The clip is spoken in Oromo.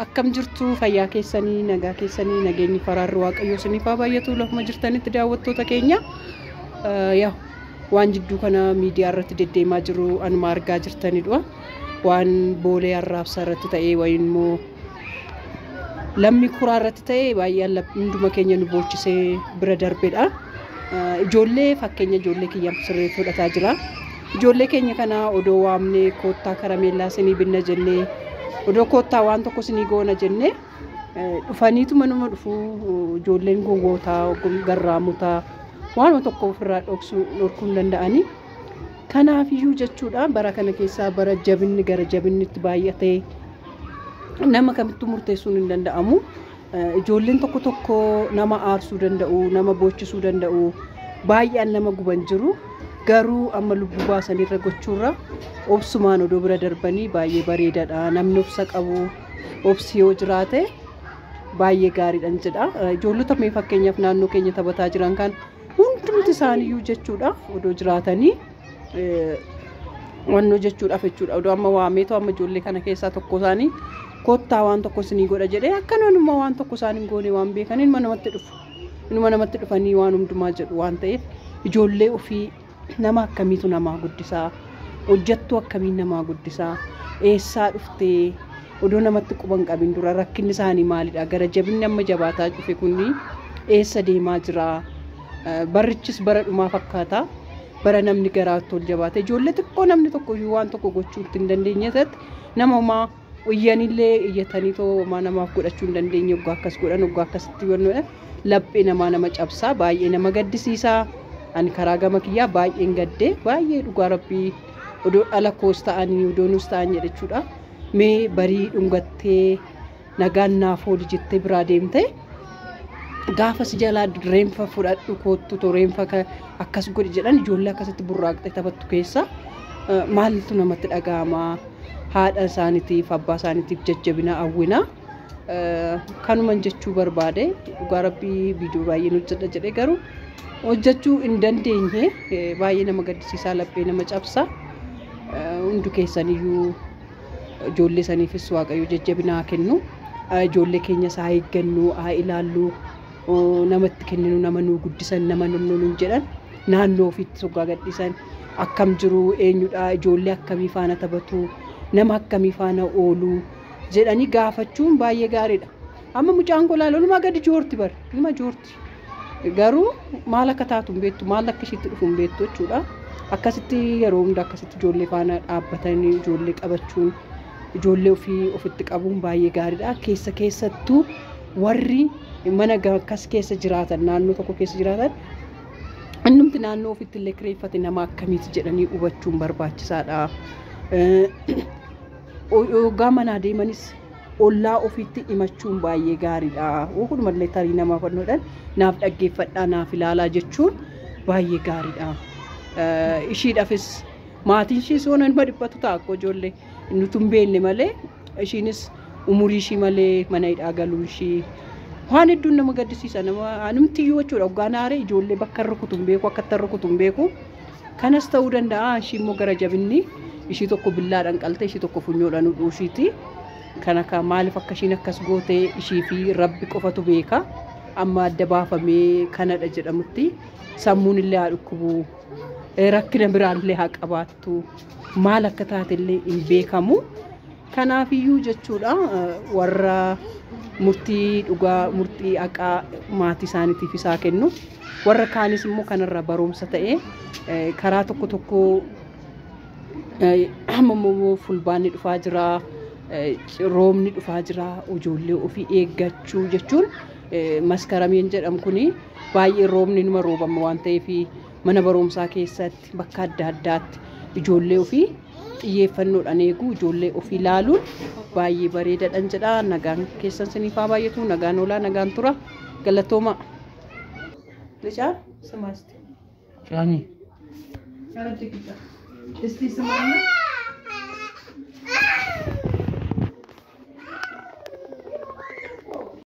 Akkam jirtu fayyaa keessanii nagaa keessanii nageenyi faraarri waaqayyoo isiniif haa baay'atu lafuma jirtanitti daawwattoota keenya Eh, yaa waan jidduu kana miidiyaa irratti deddeemaa jiru anuma argaa jirtanidha waan boolee arraabsaa irratti ta'ee wayiin immoo lammii kuraa irratti ta'e baay'een lab- hunduma keenya nu boochisee bira darbedha. Eh, Ijoollee fakkeenya ijoollee kiyyaan sirrii fudhataa jira. Ijoollee keenya kana odoo waamnee koottaa karameellaa sinii binna jennee odoo koottaa waan tokko sinii goona jennee dhufaniitu manuma dhufu ijoolleen gowwootaa garraamota waanuma tokko ofirraa dhoksuu dhorkuu hin danda'anii. Kanaafiyyuu jechuudha bara kana keessaa bara jabinni gara jabinnitti baay'atee nama kamittuu murteessuun hin danda'amu. Ijoolleen tokko tokko nama aarsuu danda'u, nama boochisuu danda'u, baay'een nama guban jiru. Garuu amma lubbuu baasanirra gochuurra obsumaan odoo bira darbanii baay'ee bareedadha. Namni obsa qabu, obsi yoo jiraate baay'ee gaariidhan jedha. Ijoollota mee fakkeenyaaf naannoo keenya taphataa jiran kan hundumti isaaniiyyuu jechuudha odoo jiraatanii. wannoo jechuudhaaf jechuudha. Odoo amma waameetu amma ijoollee kana keessaa tokko isaanii kottaa waan tokko isinii godha jedhee akkanaan immoo waan tokko isaan hin goone waan beekan inuma namatti dhufu. Inuma namatti dhufanii waan hundumaa jedhu waan ta'eef ijoollee ofii nama akkamiitu namaa guddisaa hojjattuu akkamiin namaa guddisaa eessaa dhuftee odoo namatti quban qabin dura rakkinni isaanii maalidha gara jabinni amma jabaataa dhufe kun eessa deemaa jiraa Barrichis bara dhumaa fakkaata. Bara namni garaatti ol jabaate ijoollee xiqqoo namni tokko iyyuu waan tokko gochuu itti hin dandeenye irratti nama homaa iyyanillee iyyatanii too homaa namaaf godhachuu hin dandeenye oggaa akkas godhan oggaa akkasitti wannoodha laphee namaa nama cabsaa baay'ee nama gaddisiisaa ani karaa gama kiyyaa baay'een gaddee baay'ee dhugaa rabbii odoo dhala koos ta'anii odoo nus ta'an jedhechuudha mee barii dhungattee nagaan naaf ooli jettee biraa deemte gaafa si jalaa reenfa fudhadhu koottu to reenfa ka- akkas godhi jedhan ijoollee akkasitti burraaqxee taphattu keessa eh, maaltu namatti dhaga'ama haadha isaaniitiif abbaa isaaniitiif jajjabina hawwina Eh, kanuman jechuu barbaade dhugaa rabbii viidiyoo baay'een hojjedha jedhee garuu hojjechuu hin dandeenye Eh, baay'ee nama gaddisiisaa laphee nama cabsa Eh, hundu keessaniyyuu Ijoollee saniifis Waaqayyo jajjabina haa kennu. Ijoollee keenyas haa eeggannu, haa ilaallu. Nama itti kenninu, nama nuu guddisan, nama nunnu nuun jedhan naannoo ofiitti soggaa gadhiisan akkam jiru, eenyudha, ijoollee akkamii faana taphatu, nama akkamii faana oolu jedhanii gaafachuun baay'ee gaariidha. Amma mucaan koo laal olumaa gadi joorti bar, ilma joorti. Garuu maal akka taatu hin beektu, maal akka ishiitti dhufu hin beektu jechuudha. Akkasitti yeroo hunda akkasitti ijoollee faana dhaabbatanii ijoollee qabachuun ijoollee ofii ofitti qabuun baay'ee gaariidha. Keessa keessattuu warri mana akkas keessa jiraatan naannoo tokko keessa jiraatan innumti naannoo ofitti illee kireeffate nama akkamiiti jedhanii hubachuun barbaachisaadha. Yoggaa manaa deemanis ollaa ofiitti himachuun baay'ee gaariidha. Wakunumallee tarii nama fannoodhaan naaf dhaggeeffadhaa naaf ilaalaa jechuun baay'ee gaariidha. Eh, Ishiidhafis maatiin ishiis waan nama dhiphatu ta'a akkoo ijoollee nuti hin beekne malee ishiinis umurii ishii malee mana hidhaa galuun ishii waan hedduun nama gaddisiisa nama anumtiyyuu jechuudha hoggaan aaree ijoollee bakka hin rukutu hin beeku akka itti hin rukutu hin beeku. Kanas ta'uu danda'a ishii immoo gara jabinni ishii tokko billaadhaan qalte ishii tokko funyoodhaan hudhuu ishiiti. Kan akka maaliif akka ishiin akkas goote ishii fi rabbi qofatu beeka. Amma adda baafamee kanadha jedhamutti sammuun illee haa dhukkubu. Rakkina biraan illee haa qabaattu. Maal akka taate illee hin beekamu. Kanaafiyyuu jechuudha warra murtii dhugaa, murtii haqaa maatii isaaniitiif isaa kennu. Warra kaanis immoo kanarraa barumsa ta'ee eh, karaa tokko tokko eh, amma immoo fulbaanni dhufaa jira, eh, roobni dhufaa jira, ijoollee ofii eeggachuu jechuun eh, maskarameen jedhamu kuni baay'ee roobni numa roobama waan ta'eef mana barumsaa keessatti bakka adda addaatti ijoollee ofii xiyyeeffannoodhaan eeguu ijoollee ofii ilaaluun baay'ee bareedadhan jedha nagaan keessan siniif haa baay'atu nagaan oolaa nagaan tura galatooma licaa simaasti Caanii. Isti simaanna.